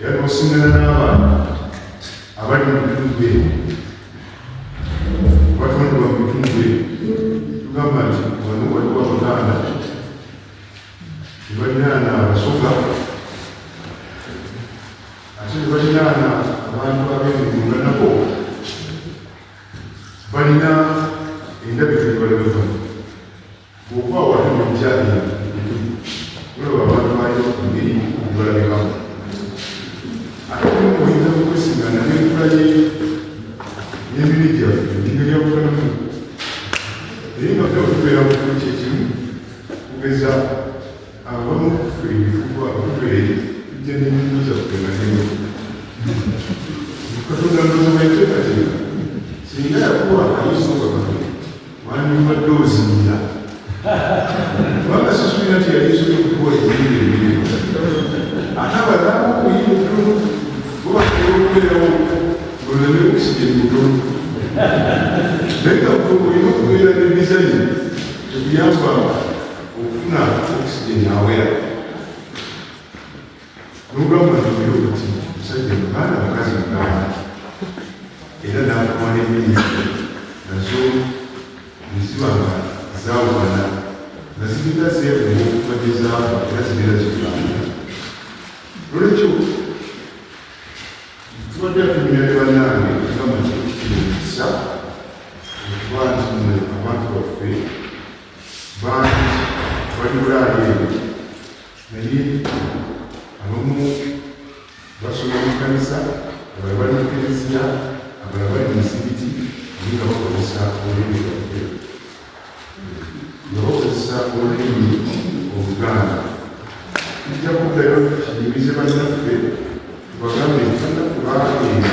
era n'osingana n'abantu abali mu bitundu ebyo batondebwa mu bitundu ebyo tugamba nti wano waliwo abaganda nebalinaana abasoga ate nebalinaana abantu ab'emigunda nabo balina endabika ebalabibwa Bw'okuba wali mu bukyalira olaba abantu bali ngeri ebalabikamu ate omu oyinza kukwesingana n'enkula ye n'emibiri gyaffe engeri yakukolamu naye nga ffe okubeera mu kimu kyekimu kugeza abamu kuffe ebifuba abakubeere tujja n'emirimu gyaffe nga nemu katonda ndoza bweteekateeka singa yakuwa ayinza okakatu wandibadde ozinira kubanga sisuubira nti yali nsobola okukuwa ebiyindo ebirimu ate abadamu obuyinda obutono bubasobola okubeerawo oleme okusika ebibutono naye nga olina okubeera ne dizayini tekuyambanga okufuna okusijeni awera N'ogamba nti oyo oti musajja muganda mukazi muganda era n'akuwa n'emmere nazo ne ziba nga zaawukana nga ziringa zeebuwa okuva gye zaava era zibeera zigamba nolwekyo tubadde atumira ne bannange ogamba nti ekisa okuba nti mwe abantu baffe bangi bali bulaali eno naye abamu basoma mu kanisa abala bali mu kereziya abala bali mu mizikiti naye nga bakozesa olulimi lwaffe nga bakozesa olulimi oluganda tujja kuddayo kiyimize bannaffe tubagambe nti bannaku baagenda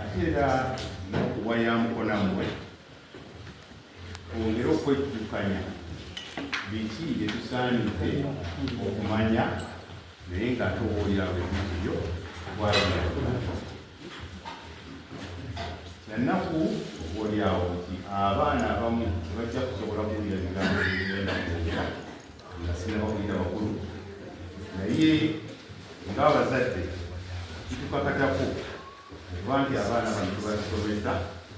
ate era nokuwa ya mukona mwe ongere okwejjukanya biki byetusaanidde okumanya naye nga towoolera bwebiziyo nanaku oboolyawo nti abaana abamu tebajja kusobola kuwulira bigambo byenda kwogera naye ng'abazadde kitukakatako okuba nti abaana bano tubasomesa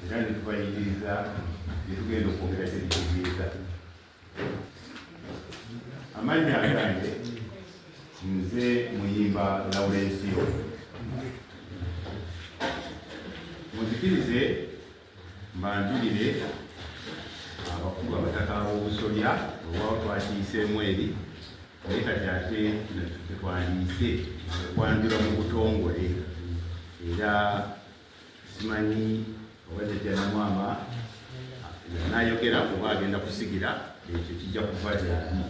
era ne tubayigiriza ne tugenda okwongera kyebitegeeza amannya agange nze muyimba lawulensiyo muzikirize Mbanjulire abakulu abataka b'obusolya olwawo twakiyiseemu eri naye kati ate tetwandiise okwanjula mu butongole era simanyi oba jajjanamwama yanayogera kuba agenda kusigira ekyo kijja kuva gyali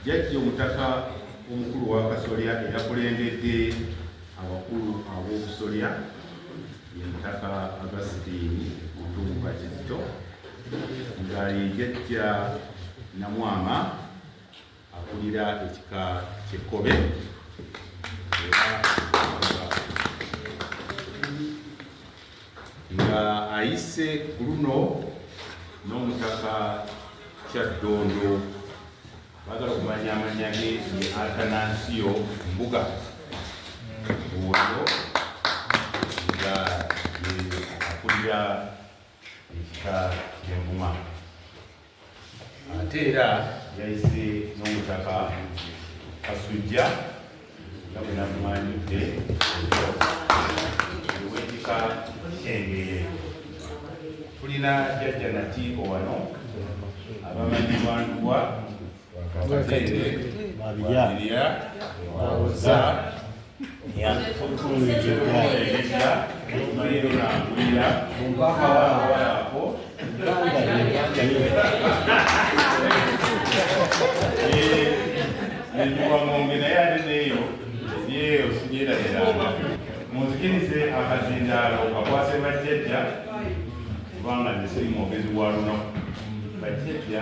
Jjajja Omutaka omukulu w'Akasolya eyakulembedde abakulu ab'obusolya ye Mutaka Augustine Mutumba Kizito nga ye jjajja Namwama akulira ekika ky'Ekkobe era nga ayise ku luno n'omutaka Kyaddondo bagala okumanya amanya ge ye Atanansiyo Mbuga oyo nga akulira ekika ky'Envuma. ate era yayise n'omutaka kasujja nga bwe nakumanyidde ewekika kyengeye tulina jajja natiiko wano abamanyi lwanduwa nendiwang'ombe naye ate neeyo ye osigyeerabiranga munzikirize akazindaalo kakwase bajjajja kubanga nesiri mwogezi wa lunaku bajjajja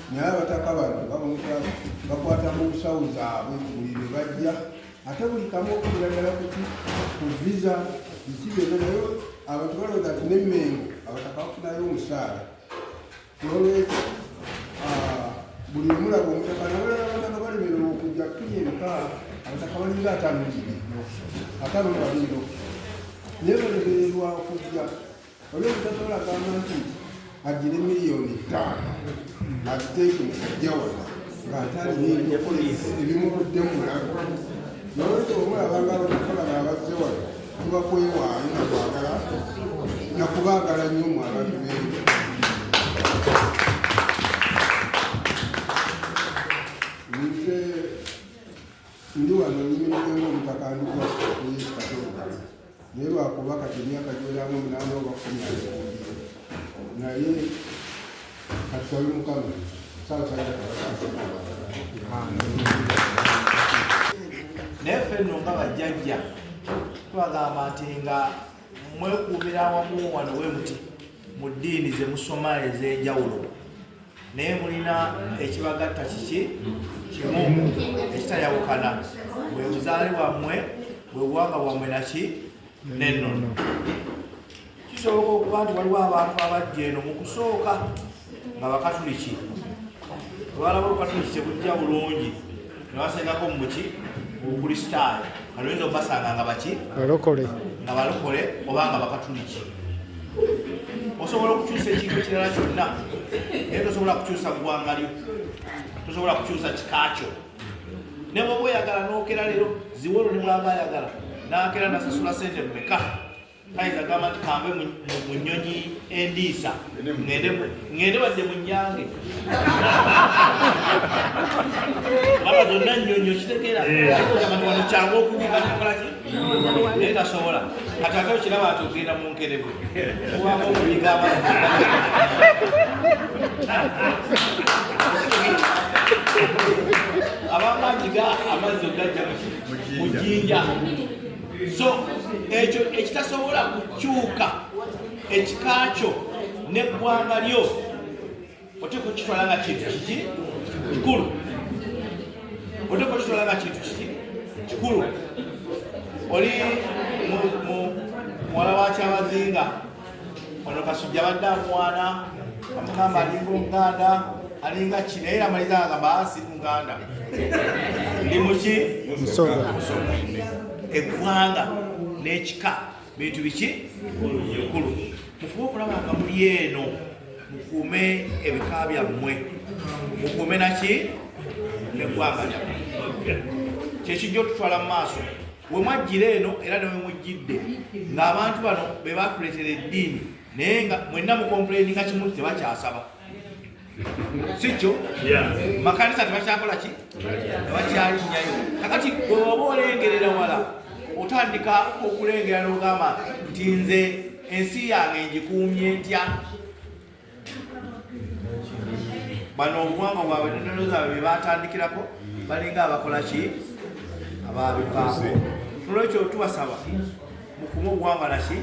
naye abataka bano baboneka bakwata mu nsawo zaabwe buli lwe bajja ate buli kamu okukulagala kuti ku visa biki byonna naye abantu balowooza nti nemmengo abataka bafunayo omusaala nolwekyo ah, buli omulaba omutaka nabalala abataka balemera okujja kuli ebika abataka balinga atanulibino atanulabino naye balemererwa okujja Oli omutatola agamba nti addire miliyoni ttaano aziteeke mu kajja wano ng'ate alina ebyokola ebimuguddemu mulago nolwekyo omulaba nga abatatolaba abazze wano tuba kwewaayo nakwagala nakubaagala nnyo mu abantu bengi nze ndi wano nyimiriza ngaomutaka ndikwa naye lwakuba kati emyaka giweramu omunaana oba kumi aebuulire naye katusabe mukama saasaaira naye ffe nno nga bajjajja twagamba nti nga mwekuumira awamu wano we muti mu ddiini ze musoma ez'enjawulo naye mulina ekibagatta kiki kimu ekitayawukana bwe buzaale bwammwe bwe buwanga bwammwe naki nenono kisoboka okuba nti waliwo abantu abajja eno mu kusooka nga bakatuliki olwalaba olukatuliki tebujja bulungi nabasengako muki mubukristaayo kanoyinza okubasanga nga baki balokole nga balokole oba nga bakatuliki osobola okukyusa ekintu ekirala kyonna naye tosobola kukyusa ggwanga lyo tosobola kukyusa kikaakyo ne bwoba oyagala nokera leero ziwolo ne bwaba ayagala nakera nasasula sente mumeka kayinza gamba nti kambe mu nnyonyi endiisa ŋŋende wadde mu nyange baba zonna nnyonyi okitegeera abantu wano kyangu okubuuka nakolaki naye tasobola kati ate okiraba nti ogenda mu nkerebu owamu okuyiga abantu abamanyiga amazzi ogajja mu jinja so ekyo ekitasobola kukyuka ekika kyo neggwanga lyo oteeka okitwala nga kintu kiki kikulu oteeka okitwala nga kintu kiki kikulu oli muwala wa kyabazinga ono kasujja badde amuwaana amugamba alinga omuganda alinga ki naye amaliza agamba ah, si muganda ndi muki eggwanga n'ekika bintu biki bikulu mufube okulaba nga muli eno mukuume ebika byammwe mukuume naki neggwanga lyammwe kyekijja otutwala mu maaso wemwajjira eno era newemujjidde ng'abantu bano be batuleetera eddiini naye nga mwenna mukompuleni nga kimu tebakyasaba sikyo makanisa tebakyakola ki tebakyalinyayo kakati bweoba olengerera wala otandika okulengera n'ogamba nti nze ensi yange ngikuumye ntya bano obuwanga bwabwe nenono zaabwe byebatandikirako balinga abakola ki ababivaako nolwekyo tubasaba mukume obuwanga naki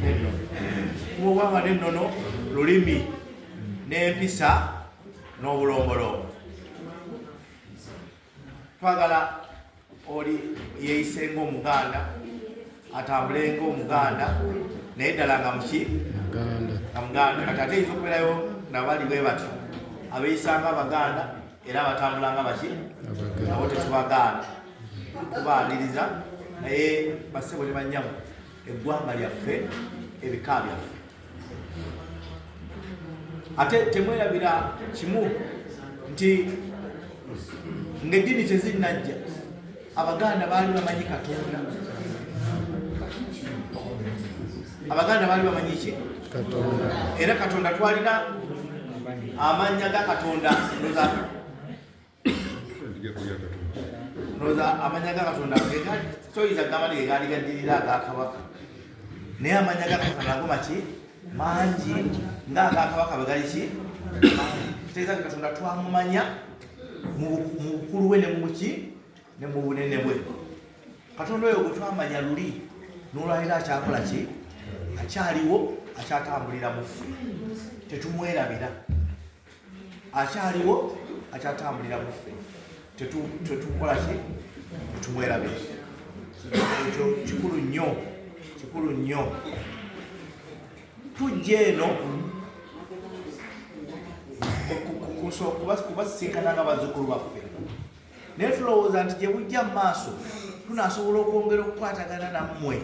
neno kuma obuwanga nenono lulimi n'empisa n'obulombolombo twagala oli yeeyise ng'omuganda atambule ng'omuganda naye ddala nga muki nga muganda kati ate yinza okubeerayo nabali bwe batyo abeeyisa nga abaganda era abatambula nga baki nabo tetubagaana tubaaniriza naye basebo ne bannyamu eggwanga lyaffe ebika byaffe ate temwerabira kimu nti ng'eddiini tezinnajja abaganda baali bamanyi katonda abaganda baali bamanyi ki era katonda twalina amanya ga katonda noza amanya ga katonda toyinza gamba nti egaali gaddirira agakabaka naye amanya ga katonda ago maki mangi nga agakabaka bwe gali ki kitegeeza nti katonda twamumanya mu bukulu bwe ne mubuki ne mu bunene bwe katonda oyo gwe twamanya luli nolwaliro akyakola ki akyaliwo akyatambulira mufu tetumwerabira akyaliwo akyatambulira muffe tetukola ki tumwerabe ekyo kikulu nnyo kikulu nnyo tujja eno kubasisinkana nga bazukulu baffe naye tulowooza nti gye bujja mu maaso tunasobola okwongera okukwatagana nammwe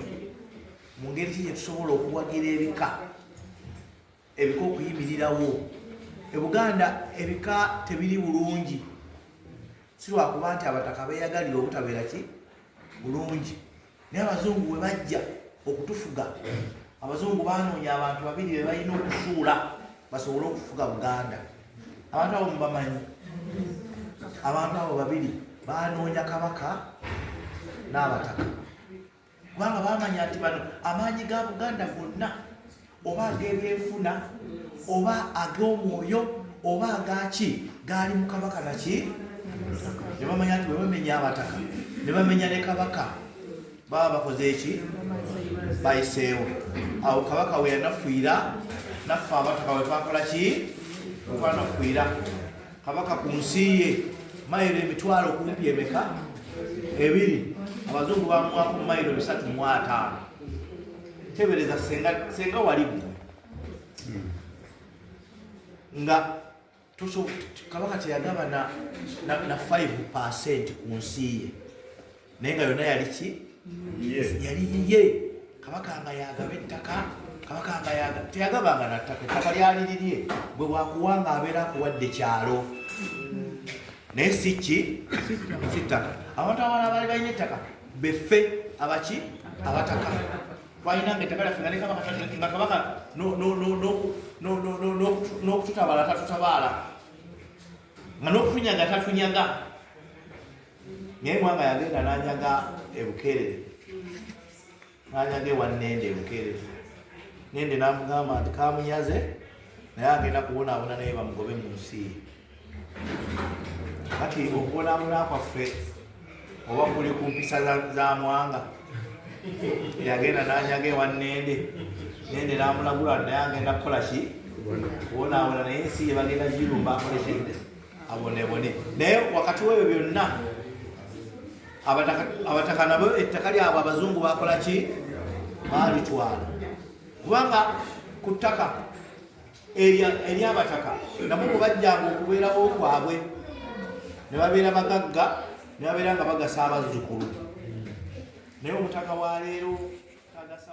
mu ngeri ki gye tusobola okuwagira ebika Ebika okuyimirirawo e Buganda ebika tebiri bulungi, si lwakuba nti abataka beeyagalira obutabeera ki bulungi, naye abazungu bwe bajja okutufuga, abazungu baanoonya abantu babiri be balina okusuula basobole okufuga Buganda. Abantu abo mubamanyi, abantu abo babiri baanoonya kabaka n'abataka. kubanga bamanya nti bano amaanyi ga buganda gonna oba ag'ebyenfuna oba ag'omwoyo oba agaki gaali mu kabaka naki ne bamanya nti webamenya abataka ne bamenya ne kabaka baba bakoze eki bayiseewo awo kabaka weyanafuira naffe abataka wetwakola ki wetwanafuira kabaka ku nsi ye mayiro emitwalo kumpi emeka ebiri abazungu bamuwako mayiro bisatu mu ataano tebereza senga wali gwe nga kabaka teyagaba na 5 percent ku nsi ye naye nga yonna yali ki yali yiye kabaka nga yagaba ettaka kabaka nga yaga teyagabanga nattaka ettaka lyali lirye bwe bwakuwa nga abeera akuwadde kyalo naye si ki si ttaka abantu abala abaali balina ettaka beffe abaki abataka twalina nga ettaka lyaffe nga ne kabaka nga kabaka n'okututabaala tatutabaala nga n'okutunyaga tatunyaga naye mwanga yagenda nanyaga ebukerere nanyaga ewanende ebukerere nende namugamba nti kamunyaze naye agenda kubonabona naye bamugobe mu nsi kati okubonabona kwaffe oba kuli ku mpisa za mwanga yagenda nanyaga ewanende nende namulagula naye agenda kukola ki kubonabona naye ensi yebagenda girumba akolekende abonebone naye wakati webyo byonna abataka nabo ettaka lyabwe abazungu bakola ki balitwala kubanga ku ttaka eryabataka nabo mubajjanga okubeerawo kwabwe ne babeera bagagga ne babeera nga bagasa abazzukulu naye omutaka wa leero tagasa